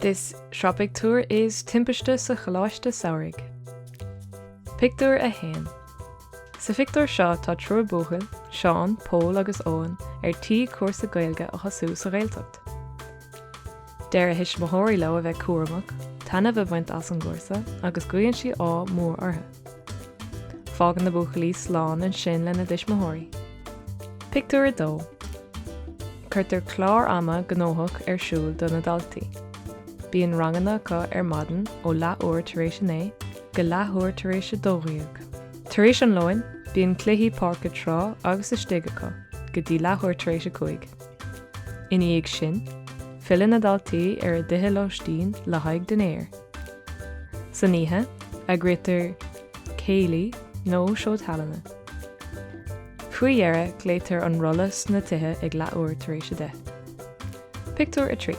This sraith pictiúr is Timpiste sa Choláiste Samhraidh. Pictiúr 1 Sa phictiúr seo tá triúr buachaill, Seán, Pól agus Eoin, ar tí cúrsa Gaeilge a thosú sa Ghaeltacht. Deir a thuismitheoirí leo a bheith cúramach, taitneamh a bhaint as an gcúrsa agus guíonn sí ádh mór orthu. Fágann na buachaillí slán ansin lena dtuismitheoirí. Pictiúr 2. Cuirtear clár ama gnóthach ar siúl do na daltaí. Bíonn ranganna acu ar maidin ó leathuair tar éis a naoi go leathuair tar éis a dó dhéag. Tar éis an lóin, bíonn cluichí páirce trá agus istigh acu go dtí leathuair tar éis a cúig. Ina dhiaidh sin, filleann na daltaí ar a dtithe lóistín le haghaidh dinnéir. San oíche, eagraítear céilí nó seó tallainne. Faoi dheireadh, glaoitear an rolla sna tithe ag leathuair tar éis a deich. Pictiúr 3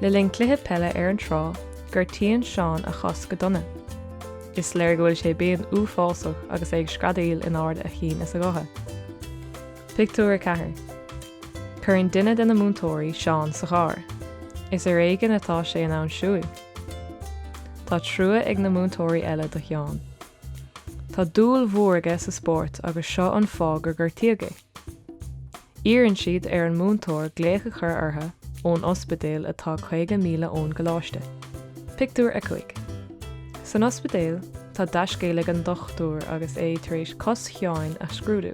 Le linn cluiche peile ar an trá, gortaíonn Seán a chos go dona. Is léir go bhfuil sé i bpian uafásach agus é ag screadaíl in ard a chinn is a ghutha. Pictiúr 4 Cuireann duine de na múinteoirí Seán sa charr. Is ar éigin atá sé in ann siúil. Tá trua ag na múinteoirí eile do Sheán. Tá dúil mhór aige sa spórt agus seo an fáth gur gortaíodh é. Iarrann siad ar an múinteoir glaoch a chur orthu ón ospidéal atá 50 míle ón gcoláiste. Pictiúr 5 San ospidéal, tá dea-scéal ag an dochtúir agus é tar éis cos Sheáin a scrúdú.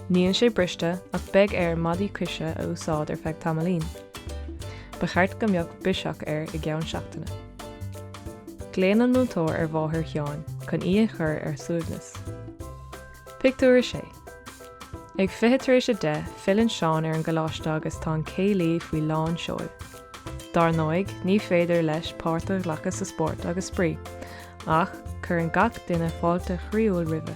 Níl sé briste ach beidh air maidí coise a úsáid ar feadh tamaillín. Ba cheart go mbeadh biseach air i gceann seachtaine. Glaonn an múinteoir ar mháthair Sheáin chun í a chur ar suaimhneas. Pictiúr 6. Ag fiche tar éis a deich, filleann Seán ar an gcoláiste agus tá an céilí faoi lán seoil. Dar ndóigh, ní féidir leis páirt a ghlacadh sa spórt agus spraoi, ach cuireann gach duine fáilte chroíúil roimhe.